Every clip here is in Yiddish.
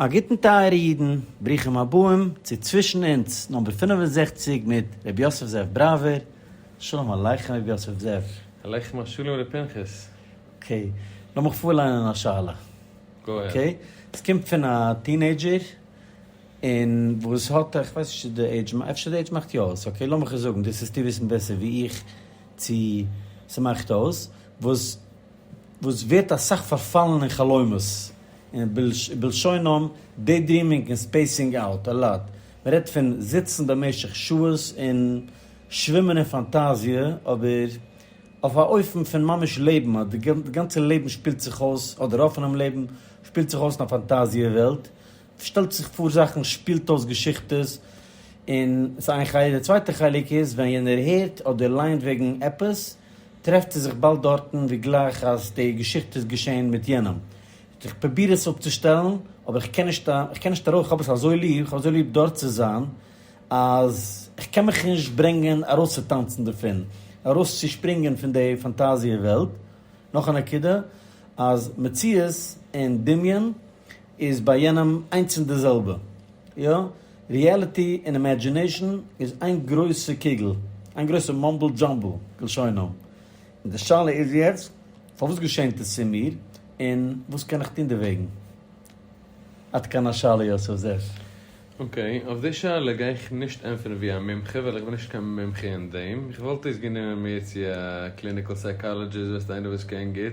א גוטן טייערע אידן, ברוכים הבאים צו צווישן אונז נומבער פֿינף און זעכציק מיט ר' יוסף זאב בראווער, שלום עליכם ר' יוסף זאב. עליכם השלום ר' פנחס. אקעי, לאמיך פארליינען א שאלה. גאו אהעד. אקעי, עס קומט פון א טינעידזשער און וואס האט איך ווייס נישט צו די עידזש אפשר די עידזש מאכט יא אויס אקעי לאמיך עס זאגן דאס העסטו וויסן בעסער ווי איך צו ס'מאכט אויס וואס וואס ווערט אסאך פארפאלן אין חלומות, און בלשונם דעי דרימינג און ספעיסינג אוט א לאט, מען רעדט פון זיצן במשך שעות און שווימען אין פאנטאזיע, אבער אויף א אופן פון ממש לעבן, אז די גאנצע לעבן שפילט זיך אויס, אדער רוב פונעם לעבן, שפילט זיך אויס אין א פאנטאזיע וועלט, שטעלט זיך פאר זאכן, שפילט אויס געשיכטעס, און ס'איז איין חלק, די צווייטע חלק איז ווען יענער הערט אדער ליינט וועגן עפעס, טרעפט זי זיך באלד דארטן ווי גלייך אז די געשיכטע איז געשען מיט יענעם. איך פרוביר עס אפצושטעלן אבער איך קען נישט איך קען נישט ארויס, איך האב עס אזוי ליב, איך האב אזוי ליב דארט צו זיין אז איך קען מיך נישט ברענגען ארויסצוטאנצן דערפון, ארויסצושפרינגען פון די פאנטאזיע וועלט. נאך א נקודה אז מציאות און דמיון איז ביי יענעם איינס און די זעלבע. יא, ריעליטי און אימעדזשינעישאן איז איין גרויסע קוגל, איין גרויסע מאמבל דזשאמבל כלשונם. און די שאלה איז יעצט, פארוואס געשענט עס צו מיר, און וואס קען איך טון דערוועגן? עד כאן השאלה יוסף זאב. אקעי, אויף די שאלה גיי איך נישט ענטפערן ווי א מומחה ווייל איך בין נישט קיין מומחה אין דעם. איך וואלט אויסגענומען מיר צו א קליניקעל סייקאלעדזשיסט, איינער וואס קען גוט.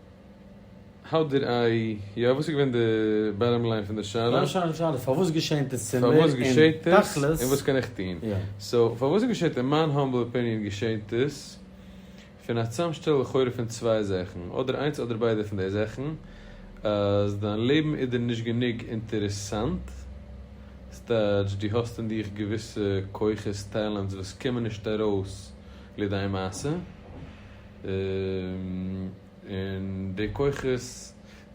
האו דיד איי, יא וואס איז געווען די באטאם ליין פון די שאלה? באטאם ליין פון די שאלה איז פארוואס געשענט עס צו מיר און תכלית. און וואס קען איך טון? סאו פארוואס עס געשעט אין מיין האמבל אפיניען געשענט עס פון א צאמשטעל לכאורה פון צוויי זאכן אדער איינס אדער ביידע פון די זאכן אז דיין לעבן איז דיר נישט גענוג אינטערעסאנט סטייטש דו האסט אין דיך געוויסע כוחות טעלענטס וואס קומען נישט ארויס לידי מעשה. און די כוחות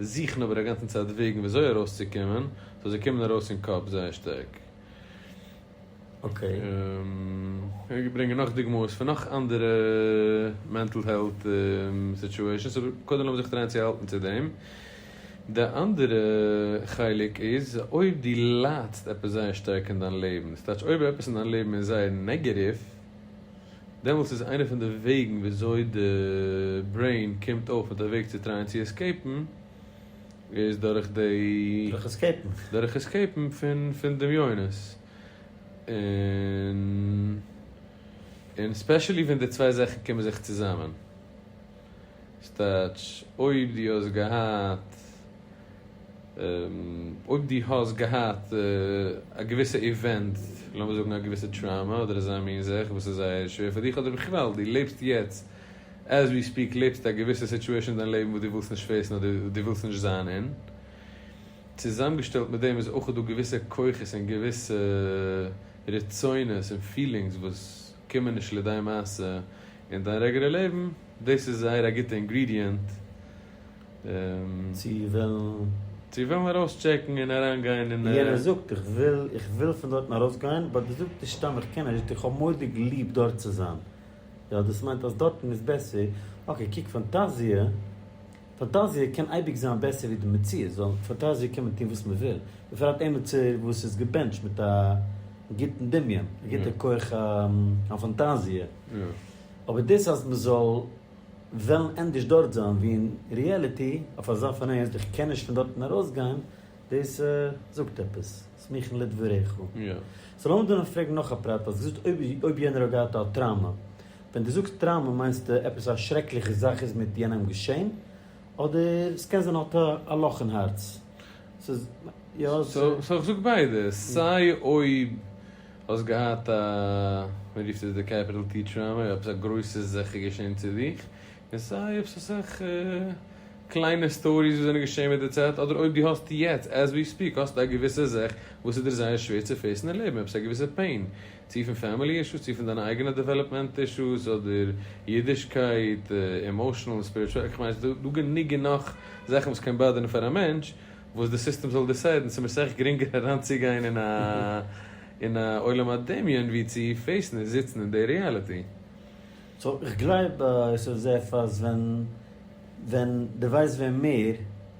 זוכן אבער א גאנצן צייט וועגן ווי אזוי ארויס צו קומען, סאו זיי קומען ארויס אין קאפ זייער שטארק. איך קען ברענגען נאך דוגמאות פון נאך אנדערע מענטל העלט סיטואשענס אבער קודם לאמיר זיך טרייען צו האלטן צו דעם. די אנדערע חלק איז אויב דו ליידסט עפעס זייער שטארק אין דיין לעבן, ס'טייטש אויב עפעס אין דיין לעבן איז זייער נעגעטיוו, דעמאלטס איז איינע פון די וועגן וויאזוי די ברעין קומט אויף מיט א וועג צו טרייען צו עסקעיפן איז דורך די. דורך עסקעיפן. דורך עסקעיפן פון דמיונות און און ספעשעלי ווען די צוויי זאכן קומען זיך צוזאמען. סטייטש, אויב דו האסט געהאט, אויב דו האסט געהאט א געוויסע איווענט, לאמיר זאגן א געוויסע טראומא אדער אזא מין זאך וואס איז זייער שווער פאר דיך, אדער בכלל דו לעבסט יעצט, עז ווי ספיעק לעבסטו א געוויסע סיטואשען אין דיין לעבן וואס דו ווילסט נישט פעיסן אדער דו ווילסט נישט זיין אין, צוזאמגעשטעלט מיט דעם איז אויך דא געוויסע כוחות און געוויסע רצונות און פילינגס וואס קומען נישט לידי מעשה אין דיין רעגעלער לעבן, דאס איז זייער א גוטע אינגרידיענט. צו וועלן. צו וועלן ארויס טשעקן און אריין גיין און. יענער זאגט איך וויל, איך וויל פון דארטן ארויס גיין, באט דו זאגט נישט סתם איך קען נישט, איך האב מורא'דיג ליב דארט צו זיין. יא דאס מיינט אז דארטן איז בעסער, אקעי קוק פאנטאזיע. פאנטאזיע קען אייביג זיין בעסער ווי די מציאות, ווייל פאנטאזיע קען מען טון וואס מען וויל, בפרט עמיצער וואס איז געבענטשט מיט א גוטן דמיון, א גוטע כח הפאנטאזיע, אבער דאס אז מען זאל וועלן ענדערש דארט זיין ווי אין ריעליטי, אויף אזא פארנעם אז איך קען נישט פון דארטן ארויסגיין, דאס זאגט עפעס, סמוכין לדבריך. סאו לאמיר דא נאר פרעגן נאך א פרט, האסט געזאגט אויב אויב יענער האט געהאט א טראומא. ווען דו זאגסט טראמא מיינסטו עפעס א שרעקליכע זאך איז מיט יענעם געשען? אדער ס'קען זיין האט א לאך אין הארץ? ס'איז יא ס. סאו איך זאג ביידע, סיי אויב האסט געהאט א, מען רופט עס די קעפיטעל טי טראמא, עפעס א גרויסע זאך געשען צו דיך, און סיי אויב ס'איז אסאך קליינע סטאריס וואס זענען געשען מיט די צייט, אדער אויב דו האסט יעצט עז ווי ספיק האסטו א געוויסע זאך וואס איז דיר זייער שווער צו פעיסן אין לעבן, עפעס א געוויסע פעין, צו פון פעמילי אישוס, צו פון דיינע אייגענע דעוועלאפמענט אישוס, אדער אידישקייט, עמאושענעל און ספיריטשועל, איך מיין ס'איז דא גענוג גענאך זאכן וואס קען באדערן פאר א מענטש, וואס די סיסטעם זאל דיסיידן, ס'מיר סך גרינגער אריינצוגיין אין א אין א עולם הדמיון ווי צו פעיסן און זיצן אין די ריאליטי. סאו איך גלייב יוסף זעף אז ווען ווען די ווייסט ווען מער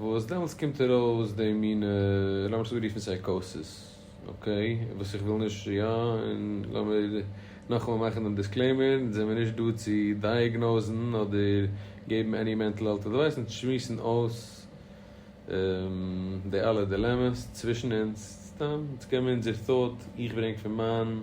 וואס דעמאלטס קומט ארויס די מינע, לאמיר עס אנרופן סייקאסיס, אקעי, וואס איך וויל נישט, יא, און לאמיר נאכאמאל מאכן דעם דיסקלעימער, אונז זעמיר נישט דא צו דייעגנאוזן אדער געבן עני מענטל העלט אדווייס, אונז שמועסן אויס די אלע דילעמעס צווישן אונז, סתם, אונז קען מיר אונזער thought, איך ברענג פון מיין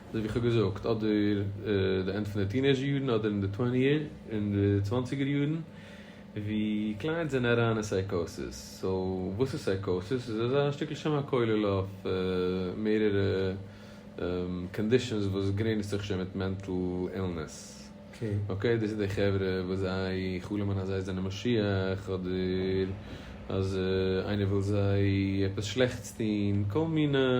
אזויווי איך האב געזאגט, אדער די ענד פון די טינעיזשער יארן אדער אין די טוועניער אין די צוואנציגער יארן ווי קליינס זענען אריין אין סייקאסיס, סאו וואס איז סייקאסיס? ס'איז אזא שטיקל שם הכולל אויף מערערע קאנדישאנס וואס גרעניצט זיך שוין מיט מענטל אילנעס, אקעי דאס איז די חברה וואס זיי חלומ'ן אז זיי זענען משיח אדער אז איינער וויל זיי עפעס שלעכטס טון, כל מיני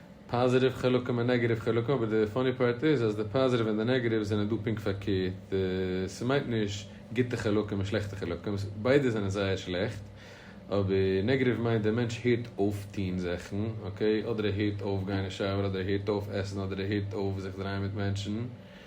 פאזיטיוו חלקים און נעגעטיוו חלקים, אבער די פאני פארט איז אז די פאזיטיוו און די נעגעטיוו זענען דא פונקט פארקערט, ס'מיינט נישט גוטע חלקים און שלעכטע חלקים, ביידע זענען זייער שלעכט, אבער נעגעטיוו מיינט דער מענטש הערט אויף טון זאכן, אקעי, אדער ער הערט אויף גיין אין שויער אדער ער הערט אויף עסן אדער ער הערט אויף זיך דרייען מיט מענטשן,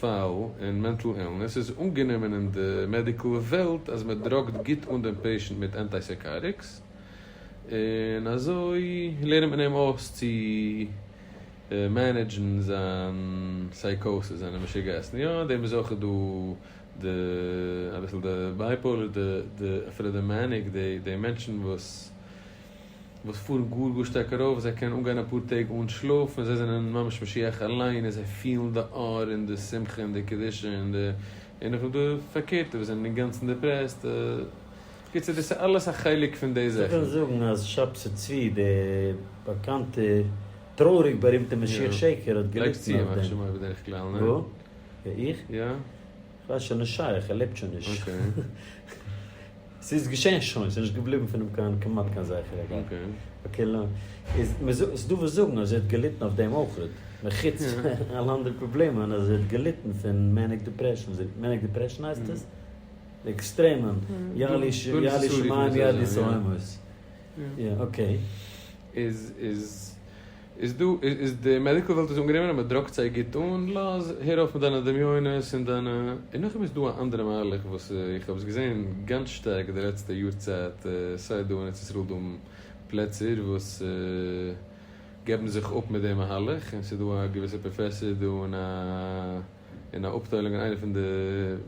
פאל אין מענטל אילנעס איז אנגענומען אין די מעדיקל וועלט אז מען דראגט גוט אן דעם פעישענט מיט אנטייסייקאריקס און אזוי לערנט מען אים אויס צו מענעדזשן זיין סייקאסיס זיינע משוגעת'ן יא דעם איז אויך דא די אביסל די בייפאולער די אפילו די מעניק די מענטשן וואס. וואס פארן גאר גאר שטארק ארויף, זיי קענען אנגיין אפאר טעג אן שלאף, און זיי זענען ממש משיח אליין, און זיי פילן די אור און די שמחה און די קדושה, און די און אויף די פארקערטע וואס זענען אינגאנצן דעפרעסט, בקיצור דאס איז אלעס א חלק פון די זאכן. מ'קען זאגן אז שב ס צבי דער באקאנטער טרויעריג בארימטער משיח שקר האט געליטן אויף דעם. לייגסט צו אים א חשבון בדרך כלל, ניין? וואו? איך? יא. כ'ווייס שוין נישט שייך, ער לעבט שוין נישט. ס'איז געשען שוין, ס'איז נישט געבליבן פון אים קיין כמעט קיין זכר אגב. איז ס'דא וואס זאגן אז ער האט געליטן אויף דעם אויך, מחוץ אלע אנדערע פראבלעמען אז ער האט געליטן פון מעניק דעפרעשן, מעניק דעפרעשן הייסט עס? די עקסטרעמען, יא לי שמים יא לי סומות. יא אקעי. איז איז דא איז די מעדיקל וועלט איז אנגענומען אז מען דראגט זיי גוט אן, לאז הער אויף מיט דיינע דמיונות און דיינע, און נאכדעם איז דא א אנדערע מהלך וואס איך האב עס געזען גאנץ שטארק די לעצטע יאר צייט סיי דא אין ארץ ישראל דא פלעצער וואס געבן זיך אפ מיט די מהלך און ס'איז דא א געוויסע פראפעסער דא אין א אין א אפטיילונג אין איינע פון די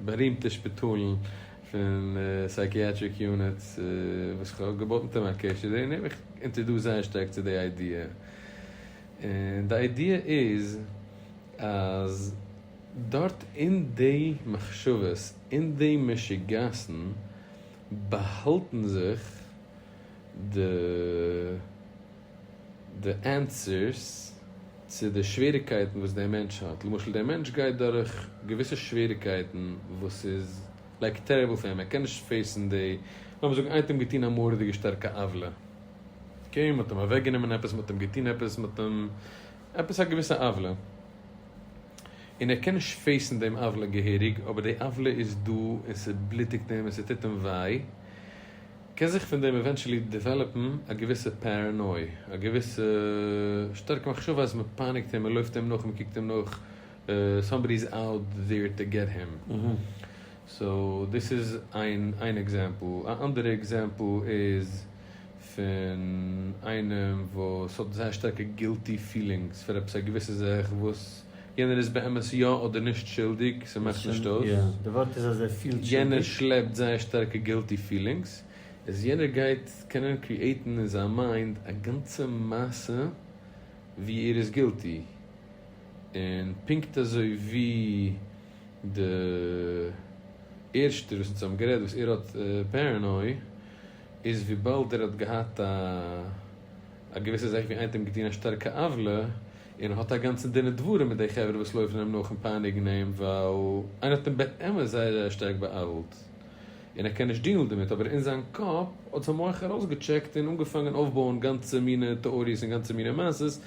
בארימטע שפיטאלן פון סייקיאטריק יוניטס וואס כ'האב געבאט מיט אים א קשר און ער האט מיך אינטערדאסט זייער שטארק צו די איידיע און די איידיע איז אז דארט אין די מחשבות אין די משוגעת'ן באהאלטן זיך די די ענטפערס צו די שוועריקייטן וואס דער מענטש האט, למשל דער מענטש גייט דורך געוויסע שוועריקייטן וואס איז לייק טעריבל פאר אים, ער קען נישט פעיסן די, לאמיר זאגן איינער האט אים געטון א מורא'דיגע שטארקע עוולה, אקעי, מען האט אים אוועק גענומען עפעס, מען האט אים געטון עפעס, מען האט אים, עפעס א געוויסע עוולה, און ער קען נישט פעיסן דעם עוולה געהעריג, אבער די עוולה איז דא און ס'בלוטיגט אים און ס'טוט אים וויי, קען זיך פון דעם עווענטשעלי דעוועלאפן א געוויסע פערענוי, א געוויסע שטארקע מחשבה אז מען פייניגט אים, מען לויפט אים נאך, מען קוקט אים נאך, סאמבאדי איז אוט דעיר טו געט הים. סאו דאס איז איין איין עקזעמפל. א אנדערע עקזעמפל איז פון איינעם וואס האט זייער שטארקע גילטי פילינגס פאר עפעס א געוויסע זאך וואס. יענער איז באמת יא אדער נישט שולדיג, ס'מאכט נישט אויס. יענער שלעפט זייער שטארקע גילטי פילינגס, איז יענער גייט קענען קריעטן אין זיין מיינד א גאנצע מעשה ווי ער איז גילטי, און פונקט אזוי ווי די ערשטער וואס אונז האבן גערעדט וואס ער האט פערענוי, איז וויבאלד ער האט געהאט א געוויסע זאך ווי איינער האט אים געטון א שטארקע עוולה, און האט א גאנצע דין ודברים מיט די חברה וואס לויפן אים נאך און פייניגן אים ווייל איינער האט אים באמת זייער זייער שטארק בא'עוול'ט און ער קען נישט דילן דערמיט אבער אין זיין קאפ האט זיין מח ארויסגעטשעקט און אנגעפאנגען אויפבויען גאנצע מינע טעאריעס און גאנצע מינע מעשות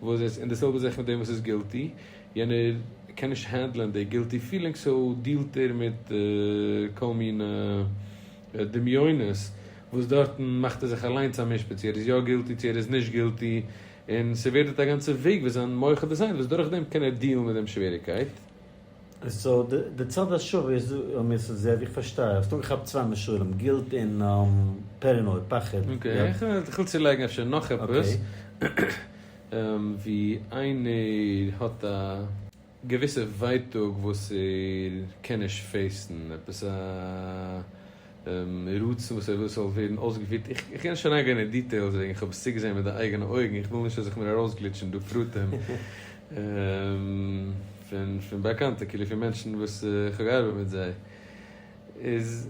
וואס איז און די זעלבע זאך מיט דעם וואס איז גילטי יענער קען נישט הענדלען די גילטי פילינג סאו דילט ער מיט כל מינע דמיונות וואס דארטן מאכט ער זיך אליינס א משפט צו ער איז יא גילטי צו ער איז נישט גילטי און ס'ווערט דארט א גאנצע וועג ווי זיין מח איז דעזיינט וואס דורך דעם קען ער דיעלן מיט דעם שוועריקייט. סאו די צד השווה איז דא מיסד זיי ווי איך פארשטיי האסט אנגעכאפט צוויי מישולים גילט און פערענויד פחד. אקעי איך וויל צולייגן אפשר נאך עפעס ווי איינער האט א. געוויסע ווייטאג וואס ער קען נישט פעיסן, עפעס א רצון וואס ער וויל ס'זאל ווערן אויסגעפירט, איך קען נישט אריינגיין אין דיטעילס וועגן כ'האב עס צוגעזעהן מיט די אייגענע אויגן, איך וויל נישט אז איך מיר ארויסגליטשן דא פרטים פון באקאנטע כאילו פון מענטשן וואס כ'האב געארבעט מיט זיי איז.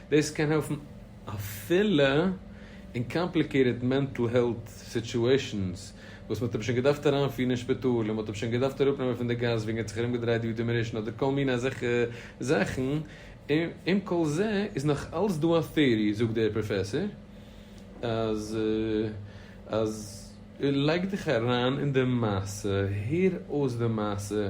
דאס קען העלפן אפילו אין קאמפליקעיטעד מענטל העלט סיטועשאנס וואס מען האט אים שוין געדארפט אריינפירן אין שפיטאל און מען האט אים שוין געדארפט אראפנעמען פון די גאס וועגן ער האט זיך ארומגעדרייט ווי דעמענישן אדער כל מיני אזעלכע זאכן, עם כל זה איז נאך אלץ דא א טעארי זאגט דער פראפעסאר אז אז לייג דיך אריין אין די מעשה, הער אויס די מעשה,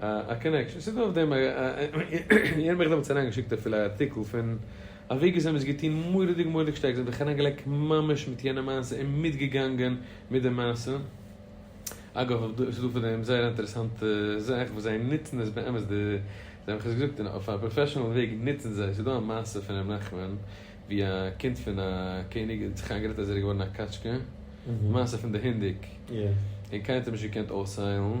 א קאנעקשאן, ס'איז דא אויף דעם א, יענער האט מיך דעמאלטס אריין געשיקט אפילו א ארטיקל פון אווי געזען וואס געטון מוראדיג מוראדיג שטארק, זיי האבן זיך אריין געלייגט ממש מיט יענע מעשה און מיט געגאנגען מיט די מעשה, אגב אויף דא, ס'איז דא פון דעם זייער א אינטערעסאנטע זאך וואס זיי נוצן עס באמת די, זיי האבן עס געזאגט און אויף א פראפעשענעל וועג נוצן זיי, ס'איז דא א מעשה פון ר' נחמן ווי א קינד פון א קעניג האט זיך איינגערעדט אז ער איז געווארן א קאטשקע, די מעשה פון די הינדיק, און קיינער האט אים נישט געקענט אויסהיילן.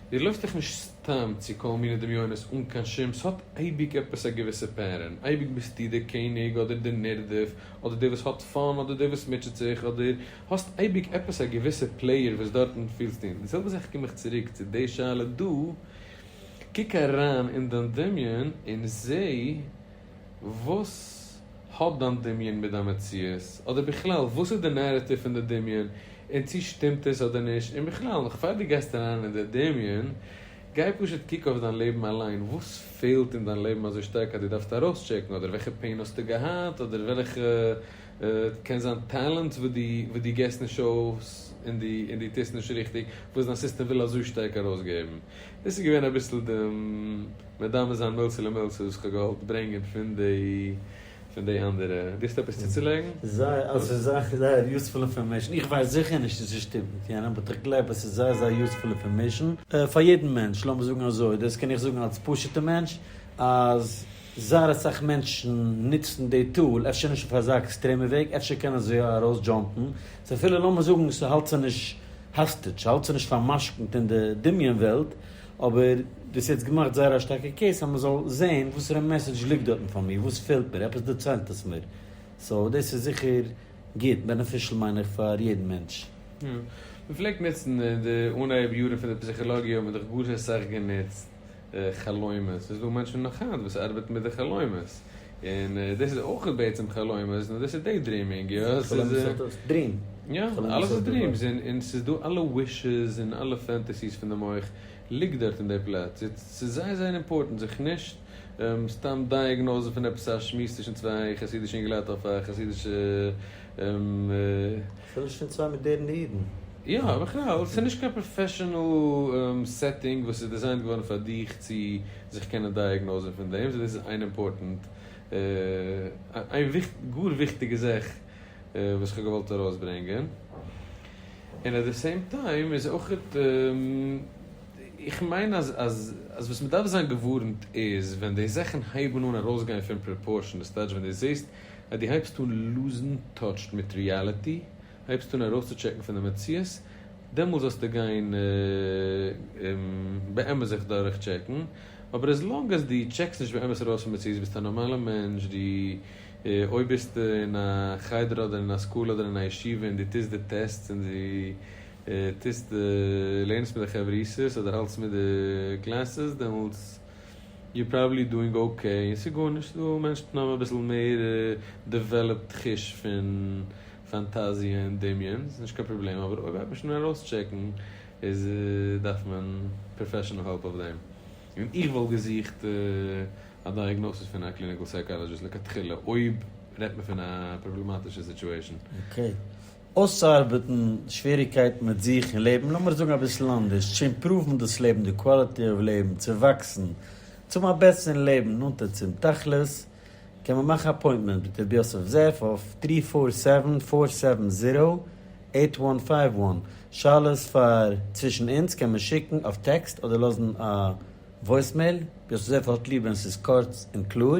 דיר לויפט דאך נישט סתם צו כל מיני דמיונות אן קיין שום, ס'האט אייביג עפעס א געוויסע פערען, אייביג ביסטו דער קעניג אדער דער נרדף, אדער דער וואס האט פאן אדער דער וואס מוטשעט זיך, אדער האסט אייביג עפעס א געוויסע פלעיער וואס דארטן פילסטו און די זעלבע זאך קום איך צוריק צו די שאלה דא, קוק אריין אין דיין דמיון און זעה. וואס האט דיין דמיון מיט דיין מציאות? אדער בכלל וואס איז די נערעטיוו פון די דמיון און צו שטימט עס אדער נישט? און בכלל נאך פאר דו גייסט אריין אין די דמיון גיי פשוט קוק אויף דיין לעבן אליין וואס פעלט אין דיין לעבן אזוי שטארק אז דו דארפסט ארויסטשעקן אדער וועלכע פעין האסטו געהאט אדער וועלכע קען זיין טעלענט וואס דו גיבסט נישט אויס און דו טוסט נישט ריכטיג וואס דיין סיסטעם וויל אזוי שטארק ארויסגעבן? דאס איז געווען אביסל די מדמה זיין מילתא למילתא וואס כ'האב געהאלט ברענגען פון די פון די אנדערע. דו האסט עפעס צוצולייגן? זייער אלס איז זייער זייער יוספול אינפארמעישן, איך ווייס זיכער נישט צו ס'שטימט מיט יענעם באט איך גלייב אז ס'איז זייער זייער יוספול אינפארמעישן פאר יעדן מענטש, לאמיר זאגן אזוי, דאס קען איך זאגן אלס פשוט'ע מענטש אז זייער אסאך מענטשן נוצן די טול, אפשר נישט אויף אזא עקסטרעמע וועג, אפשר קענען זיי יא ארויס דזשאמפן, סאו אפילו לאמיר זאגן ס'האלט זיי נישט האסטידזש, ס'האלט זיי נישט פאר'משכון'ט אין די דמיון וועלט, אבער דו האסט יעצט געמאכט זייער א שטארקע קעיס אז מ'זאל זעהן וואסערע מעסעדזש ליגט דארטן פאר מיר, וואס פעלט מיר, עפעס דערציילט עס מיר, סאו דאס איז זיכער גוט, בענעפישל מיין איך פאר יעדן מענטש. יא. מ'פלעגט נוצן אין די אנהייב יארן פון די פסיכאלאגיע האט מען דאך גאר אסאך גענוצט חלומות. ס'איז דא מענטשן נאך היינט וואס ארבעטן מיט די חלומות. און דאס איז אויך בעצם חלומות, נאר דאס איז דעי דריעמינג, יא? חלומות איז אויך דריעם. יא, אלעס איז דריעמס, און ס'איז דא אלע ווישעס און אלע פענטעסיס פון די מח ליגט דארט אין דעי פלאץ. יעצט, ס'איז זייער זייער אימפארטענט זיך נישט סתם דייעגנאוזן פון עפעס א שמועס צווישן צוויי חסידישע אינגעלייט אויף א חסידישע אפילו שוין צוויי מאדערנע אידן. יא, בכלל, ס'איז נישט קיין פראפעשענעל סעטינג וואס איז דיזיינט געווארן פאר דיך צו זיך קענען דייעגנאוזען פון דעם, סאו דאס איז איין אימפארטענט, איין גאר וויכטיגע זאך וואס כ'האב געוואלט ארויסברענגען. און עט די סעים טיים איז אויך, איך מיין אז וואס מ'דארף זיין געווארנט איז ווען די זאכן הייבן אן ארויסגיין פון פראפארשען, די סטעידזש ווען דו זעסט אז דו הייבסט אן לוזן טאטש מיט ריעליטי, הייבסט אן ארויסצוטשעקן פון די מציאות, דעמאלס זאלסטו גיין באמת זיך דורך טשעקן, אבער עז לאנג אז דו טשעקסט נישט באמת ארויס פון מציאות, ביסט א נארמאלע מענטש, דו אויב ביסטו אין א חדר אדער אין א סקול אדער אין א ישיבה און דו טוסט די טעסטס און דו טוסט לערנסט מיט די חברותות אדער האלטסט מיט די קלעסעס דעמאלס. יור פראבעבלי דואינג אקעי, און ס'איז גארנישט דא, מענשטן האבן אביסל מער דעוועלאפט חוש פון פאנטאזיע און דמיון, ס'איז נישט קיין פראבלעם, אבער אויב הייבט מען שוין אן ארויסטשעקן איז דארף מען פראפעשענעל העלפ אויף דעם, און איך וואלט געזוכט א דייעגנאסיס פון א קליניקעל סייקאלאדזשיסט לכתחילה אויב רעדט מען פון א פראבלעמאטישע סיטואשען. אקעי. אויסצוארבעטן די שוועריגקייטן מיט זיך און לעבן, לאמיר זאגן אביסל אנדערש, צו אימפראוון דאס לעבן, די קוואליטי אוו לעבן, צו וואקסן, צו האבן א בעסערן לעבן, נאנטער צום תכלית, קען מען מאכן אפוינטמענט מיט רבי יוסף זאב אויף טרי פאר סעווען פאר סעווען זירא עיט וואן פייוו וואן, שאלות פאר צווישן אונז קען מען שיקן אויף טעקסט אדער לאזן א וואויסמעיל, רבי יוסף זאב האט ליב ווען ס'איז קורץ און קלאר,